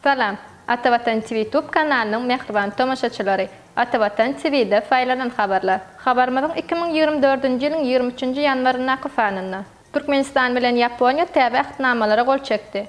Salam! Ata Watan TV YouTube kanalynyň mähriban tomaşaçylary! Ata Watan TV-de saýlanan habarlar. Habarymyzyň iki müň ýigrimi dördünji ýylyň ýigrimi üçünji ýanwaryndaky sanynda. Türkmenistan bilen Ýaponiýa täze Ähtnamalara gol çekdi.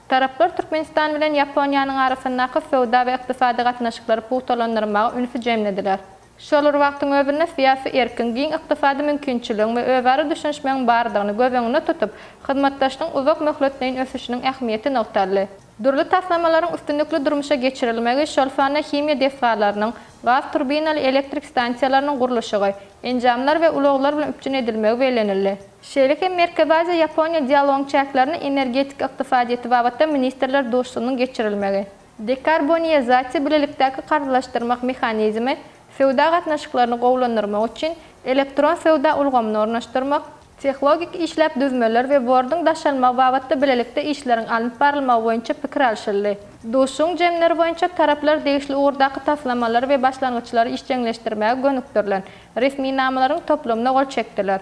Taraplar Türkmenistan bilen Ýaponiýanyň arasyndaky söwda we ykdysady gatnaşyklary pugtalandyrmaga ünsi jemlediler. Şol bir wagtyň özünde syýasy erkiň, giň ykdysady mümkinçiligiň we özara düşünişmegiň bardygyny göz öňünde tutup, hyzmatdaşlygyň uzak möhletleýin ösüşiniň ähmiýeti nygtaldy. Dürli taslamalaryň üstünlikli durmuşa geçirilmegi, şol sanda himiýa desgalarynyň, gaz turbinaly elektrik stansiýalarynyň gurluşygy, enjamlar we ulaglar bilen üpjün edilmegi bellenildi. Şeýle hem Merkezi Aziýa, Ýaponiýa dialogyň çäklerinde energetika ykdysadyýeti babatda ministrler duşuşygynyň geçirilmegi, dekarboniýazasiýa bilelikdäki karzlaşdyrmak mehanizmi, söwda gatnaşyklaryny gowulandyrmak üçin elektron söwda ulgamyny ornaşdyrmak, tehlogik işläp düzmeler we borduň daşalmagy babatda bilelikde işleriň alnyp barylmagy boýunça pikir alşyldy. Duşuşygyň jemleri boýunça taraplar degişli ugurdaky taslamalary we başlangyçlary işjeňleşdirmäge gönükdirilen resminamalaryň toplumyna gol çekdiler.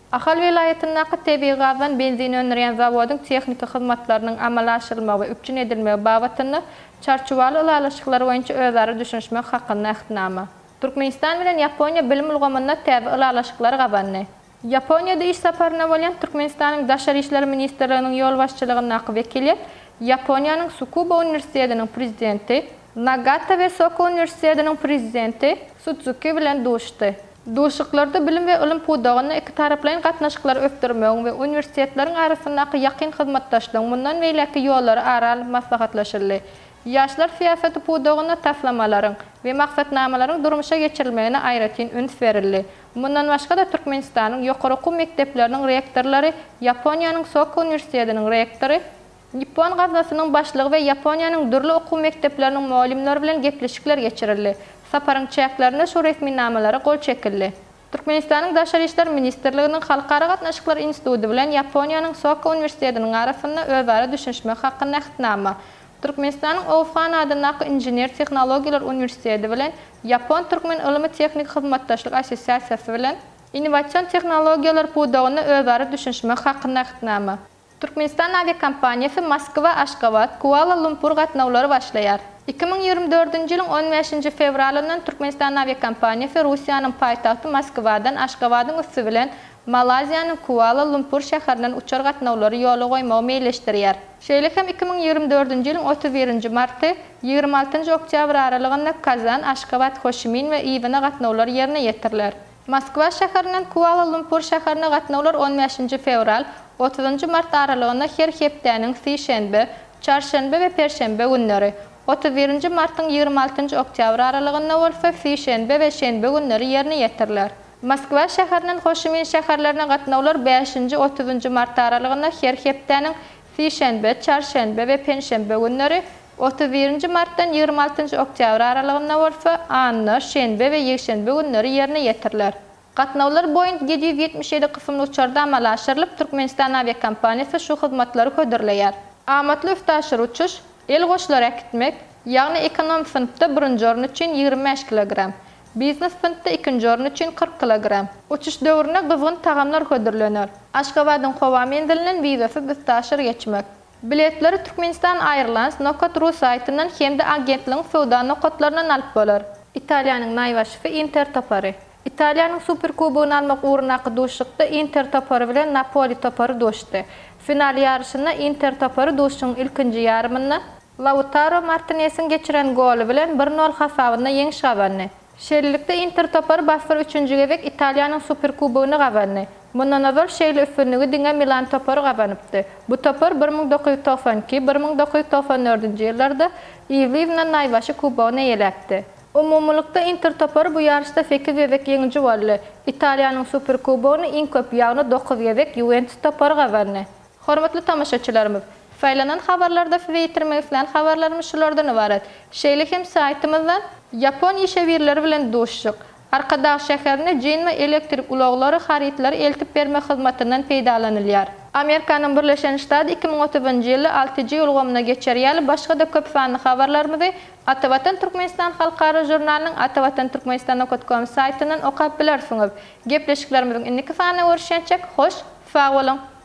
Ahal welaýatyndaky tebigy gazdan benzin öndürýän zawodyň tehniki hyzmatlarynyň amala aşyrylmagy we üpjün edilmegi babatynda Çarçuwaly ylalaşyklar boýunça özara düşünişmek hakynda Ähtnama. Türkmenistan bilen Ýaponiýa bilim ulgamynda täze ylalaşyklary gazandy. Ýaponiýada iş saparynda bolýan Türkmenistanyň Daşary işler ministrliginiň ýolbaşçylygyndaky wekiliýet Ýaponiýanyň Sukuba uniwersitetiniň prezidenti Nagata we Soko uniwersitetiniň prezidenti Sudzuki bilen duşdy. Duşuşyklarda bilim we ylym pudagynda ikitaraplaýyn gatnaşyklary ösdürmegiň we uniwersitetleriň arasyndaky ýakyn hyzmatdaşlygyň mundan beýläkki ýollary ara alnyp maslahatlaşyldy. Ýaşlar syýasaty pudagynda taslamalaryň we maksatnamalaryň durmuşa geçirilmegine aýratyn üns berildi. Mundan başga-da Türkmenistanyň ýokary okuw mekdepleriniň rektorlary, Ýaponiýanyň Soka uniwersitetiniň rektory, Nippon gaznasynyň başlygy we Ýaponiýanyň dürli okuw mekdepleriniň mugallymlary bilen gepleşikler geçirildi. Saparyň çäklerinde şu resminamalara gol çekildi. Türkmenistanyň Daşary işler ministrliginiň Halkara gatnaşyklar instituty bilen Ýaponiýanyň Soka uniwersitetiniň arasynda özara düşünişmek hakynda Ähtnama, Türkmenistanyň Oushan adyndaky Inžener-tehnologiýalar uniwersiteti bilen Ýapon-türkmen ylmy-tehniki hyzmatdaşlyk assosiasiýasy bilen Innowasion tehnologiýalar pudagynda özara düşünişmek hakynda Ähtnama. Türkmenistan awiakompaniýasy Moskwa, Aşgabat, Kuala Lumpur gatnawlary başlaýar. Iki müň ýigrimi dördünji ýylyň on bäşinji fewralyndan Türkmenistan awiakompaniýasy Russiýanyň paýtagty Moskwadan Aşgabadyň üsti bilen Malaýziýanyň Kuala Lumpur şäherinden uçar gatnawlary ýola goýmagy meýilleşdirýär. Şeýle hem iki müň ýigrimi dördünji ýylyň otuz birinji marty, ýigrimi altynjy oktýabr aralygynda Kazan, Aşgabat, Hoşimin we Ýibina gatnawlary ýerine ýetiriler. Moskwa şäherinden Kuala-Lumpur şäherine gatnawlar on bäşinji fewral, otuzynjy mart aralygynda her hepdäniň sişenbe, çarşenbe we perşenbe günleri, otuz birinji martyň ýigrimi altynjy oktýabry aralygynda bolsa sişenbe we şenbe günleri ýerine ýetiriler. Moskwa şäherinden Ho Şi Min şäherlerine gatnawlar bäşinji, otuzynjy mart aralygynda her hepdäniň sişenbe, çarşenbe we penşenbe günleri, Otuz birinji martdan ýigrimi altynjy oktýabr aralygynda bolsa anna, şenbe we ýekşenbe günleri ýerine ýetiriler. Gatnawlar Boeing ýedi ýüz ýetmiş ýedi kysymly uçarda amala aşyrylyp, Türkmenistan awiakompaniýasy şu hyzmatlary hödürleýär. Amatly üstaşyr uçuş, el goşlary äkitmek, ýagny ekonom synpda birinji orun üçin ýigrimi bäş kilogram, biznes synpda ikinji orun üçin kyrk kilogram. Uçuş döwründe gyzgyn tagamlar hödürlener. Aşgabadyň howa menzilinden wizasyz üstaşyr geçmek. Biletleri Turkmenistan Airlines Nokat.ru saýtyndan hem-de agentligiň söwda nokatlaryndan alyp bolar. Italiýanyň naýbaşysy Inter topary. Italiýanyň Superkubogyny almak ugrundaky duşuşykda Inter topary bilen Napoli topary duşdy. Final ýaryşynda Inter topary duşuşygyň ilkinji ýarymynda, Lautaro Martinesiň geçiren goly bilen bir nol hasabynda ýeňiş gazandy. Şeýlelikde, Inter topary basdyryp üçünji gezek Italiýanyň Superkubogyny gazandy. Mundan ozal şeýle üstünligi diňe Milan topary gazanypdy. Bu topar bir müň dokuz ýüz togsan iki, bir müň dokuz ýüz togsan dördünji ýyllarda yzly-yzyna naýbaşy kubogyny eýeläpdi. Umumylykda Inter topary bu ýaryşda sekiz gezek ýeňiji boldy. Italiýanyň Superkubogyny iň köp, ýagny dokuz gezek Ýuwentus topary gazandy. Hormatly tomaşaçylarymyz! Saýlanan habarlarda size ýetirmek islän habarlarymyz şulardan ybarat. Şeýle hem saýtymyzdan Ýapon işewirleri bilen duşuşyk, Arkadag şäherine Jinma elektrik ulaglary harytlary eltip bermek hyzmatyndan peýdalanylýar. Amerikanyň Birleşen Ştat iki müň otuzynjy ýylda alty G ulgamyna geçer ýaly başga-da köp sanly habarlarymyzy Atavatan Türkmenistan halkara žurnalynyň Atavatan Türkmenistan nokat kom saýtyndan okap bilersiňiz. Gepleşiklerimiziň indiki sanyna görüşýänçäk, hoş, sag boluň!